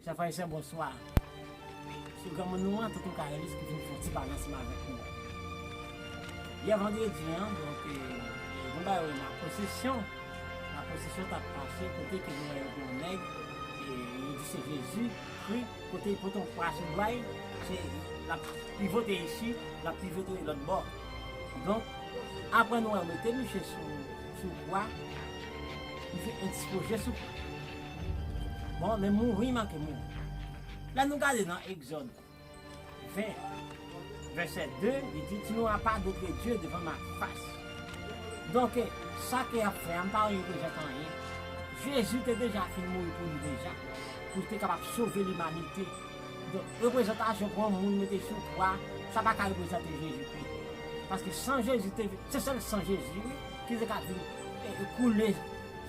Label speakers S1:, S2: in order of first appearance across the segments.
S1: Chèf Ayisyen bonswa. Sou granmoun ou an tonton Karelis pou vin fè yon ti pale ansanm avèk nou. Yè vandredi an, donk nou bay wè la pwosesyon, la pwosesyon tap mache kote ke nou wè yon gwo nèg e yo di se Jezi kri, kote li pote yon kwa sou dwa li, se lap pivote isi, lap pivote lòt bò. Donk aprè nou wè yo mete misye sou. Sou bwa misye ekspoze sou pye. Bon, men mouri manke mouri. Lè nou gade nan Egzòd 20, vèsè 2, li di, Tu n'auras pas d'autre Dieu devant ma face. Donke, sa ke y ap fè a, m pa reprezante anyen. Jezi te deja fin mouri pou nou deja, pou l te kapab sove limanite. Donk, reprezantasyon pran moun mete sou kwa, sa pa ka reprezante Jezi Kri. Paske san Jezi te vin, se sèl san Jezi wi, ki te ka vin koule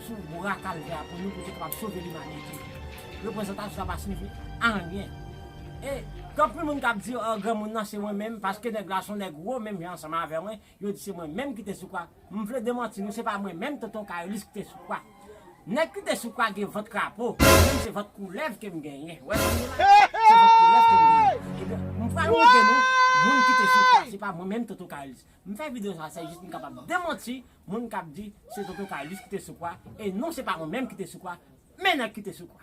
S1: sou bwa kalvè a pou nou, pou te kapab sove limanite. Reprezantasyon sa pa siyifi anyen. E, gen anpil moun k ap di, o, granmoun nan se mwen menm, paske nèg la se yon nèg wo menm jan ansanm avè mwen, Yo di se mwen menm ki te sou kwa. M vle demanti nou se pa mwen menm Tonton Kayolis ki te sou kwa. Nèg ki te sou kwa gen vant krapo, mwen menm se vant koulèv ke m genyen. Wè jan m ye la? Se vant koulèv ke m genyen. Ebyen, m pral montre nou moun ki te sou kwa. Se pa mwen menm Tonton Kayolis. M fè videyo sa se jis pou m kapab demanti moun k ap di se Tonton Kayolis ki te sou kwa. E non se pa mwen menm ki te sou kwa, men nèg ki te sou kwa.